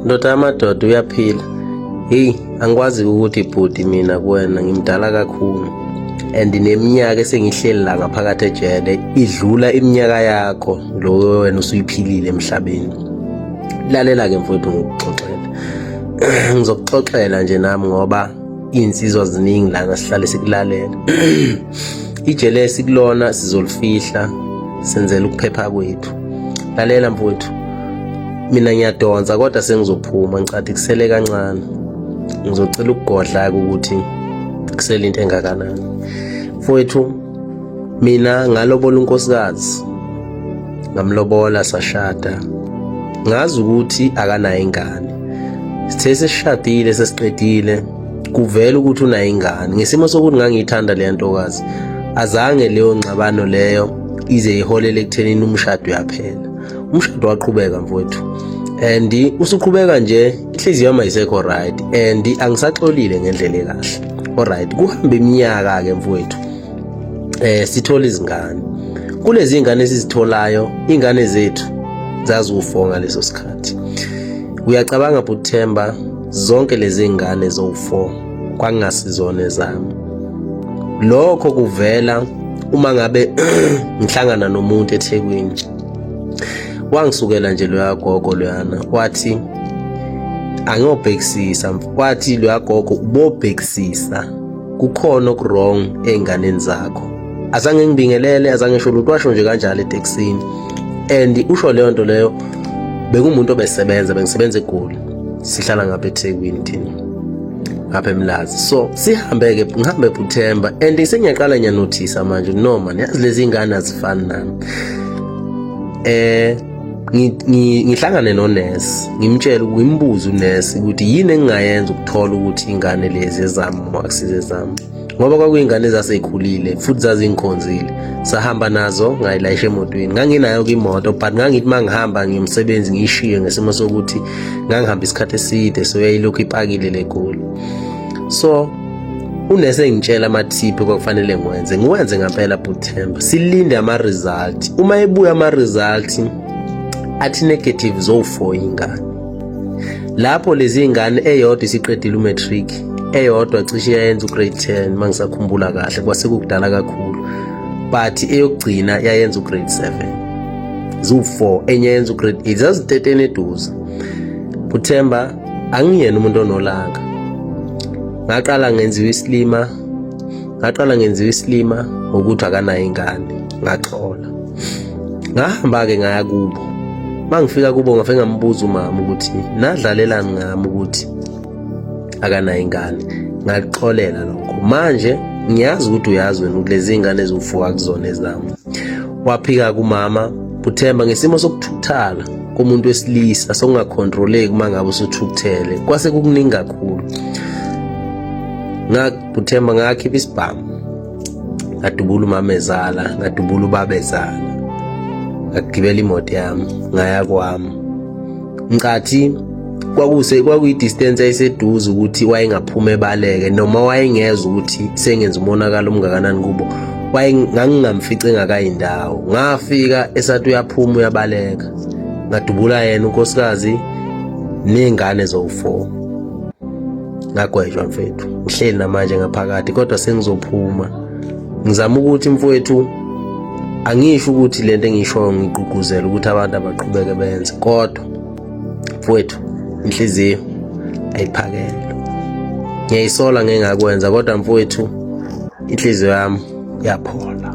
Ndoda yamadoda uyaphila. Hey, angikwazi ukuthi bhuti mina kuwena ngimdala kakhulu. And neminyaka esengihleli la ngaphakathi ejele idlula iminyaka yakho lo wena usuyiphilile emhlabeni. Lalela ke mfowethu ngikuxoxela. Ngizokuxoxela nje nami ngoba insizwa ziningi lana sihlale sikulalela. Ijele esikulona sizolifihla senzela ukuphepha kwethu. Lalela mfowethu. Mina ngiyadonsa kodwa sengizophuma ngicathi kusele kancane. Ngizocela ukugodla ukuthi kusele into engakanani. Mfowethu mina ngalobola unkosikazi ngamlobola sashada ngazi ukuthi akanayo ingane sithe sesishadile sesiqedile kuvela ukuthi unayo ingane ngesimo sokuthi ngangiyithanda le ntokazi azange leyo ngxabano leyo ize iholele ekuthenini umshado uyaphela umshado waqhubeka mfowethu and usuqhubeka nje inhliziyo yami ayisekho right and angisaxolile ngendlela ekahle alright kuhambe iminyaka ke mfowethu eh sithola izingane kulezi ingane esizitholayo ingane zethu zaziwufonga leso sikhathi uyacabanga bhuthemba Zonke lezi ngane zowu-4 kwakungasizona ezami. Lokho kuvela uma ngabe ngihlangana nomuntu eThekwini. Wangisukela nje loya gogo loyana wathi angiyobhekisisa wathi loya gogo ubobhekisisa kukhona okuwrong ey'nganeni zakho azange ngibingelele azange sho lutho washo nje kanjalo etekisini and usho leyo nto leyo bekumuntu obesebenza bengisebenza egoli sihlala ngapha eThekwini thina ngapha eMlazi so sihambe ke ngihambe kuThemba and sengiyaqala ngiyanothisa manje no man yazi lezi ingane azifani nami eh ngihlangane nonesi ngimtshele ngimbuze unesi ukuthi yini engingayenza ukuthola ukuthi ingane lezi ezami uma akusize zami ngoba kwakuyingane ezaseyikhulile futhi zazingikhonzile sahamba nazo ngayilayisha emotweni nganginayo kwimoto but ngangithi uma ngihamba ngiyomsebenzi ngiyishiye ngesimo sokuthi ngangihamba isikhathi eside so yayilokhu ipakile le goli so unese engitshela amathiphi kwakufanele ngiwenze ngiwenze ngampela bhuthemba silinde ama-result uma ebuya ama-result athi negative zowu-four ingane lapho lezi ngane eyodwa isiqedile umatric eyodwa cishe yayenza ugrade 10 mangisakhumbula kahle kwase kukudala kakhulu but eyokugcina yayenza ugrade 7 ziwu-4 enye yenza ugrade 8 zaziteteni eduze kuthemba angiyena umuntu onolaka ngaqala ngenziwa isilima ngaqala ngenziwa isilima ngokuthi akanayo ingane ngaxola ngahamba-ke ngaya kubo mangifika kubo ngafe ngambuza umama ukuthi nadlalelani ngami ukuthi akanayo ingane ngakuxolela lokho manje ngiyazi ukuthi uyazi wena ukuthi lezi ngane eziwufuka kuzona ezami waphika kumama uthemba ngesimo sokuthuthala komuntu wesilisa sokungakhontroleki uma ngabe usuthukuthele kwase kukuningi kakhulu ngakuthemba ngakhipha isibhamu ngadubula umamezala ngadubula ubabezala ngagibela imoto yami ngaya kwami nkathi kwakuse kwakuyi-distance ayiseduze ukuthi wayengaphuma ebaleke noma wayengezwa ukuthi sengenza umonakalo omngakanani kubo ngangingamfice engakayindawo ngafika esathi uyaphuma uyabaleka ngadubula yena unkosikazi ney'ngane zowu-four ngagwejwa mfethu ngihleli namanje ngaphakathi kodwa sengizophuma ngizama ukuthi mfowethu angisho ukuthi lento engishoyo ngigqugquzela ukuthi abantu abaqhubeke benze kodwa mfowethu inhliziyo ayiphakele ngiyayisola ngengakwenza kodwa mfowethu inhliziyo yami yaphola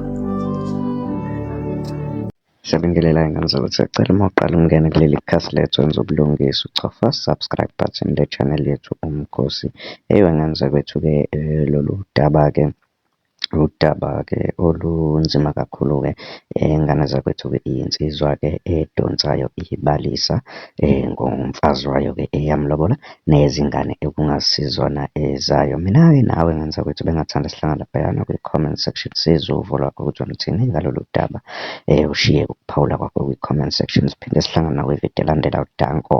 Siyabingelela ingane zakwethu siyacela uma uqala ungene kuleli khasi lethu wenza ubulungisa uchofa subscribe button le channel yethu umkhosi eyiwe ngane zakwethu-ke eh, lolu daba-ke Udaba-ke olunzima kakhulu-ke ngane zakwethu-ke iy'nsizwa-ke edonsayo ibalisa ngomfazi wayo-ke eyamulobola nezingane ekungasizona ezayo. Mina-ke nawe ngane zakwethu bengingathanda sihlangane laphayana kwi-comment section sizwe uvo lwakho ukuthi uluthini ngalolu daba. Ushiye ukuphawula kwakho kwi-comment section siphinde sihlangane nakwividiyo elandelayo. Danko.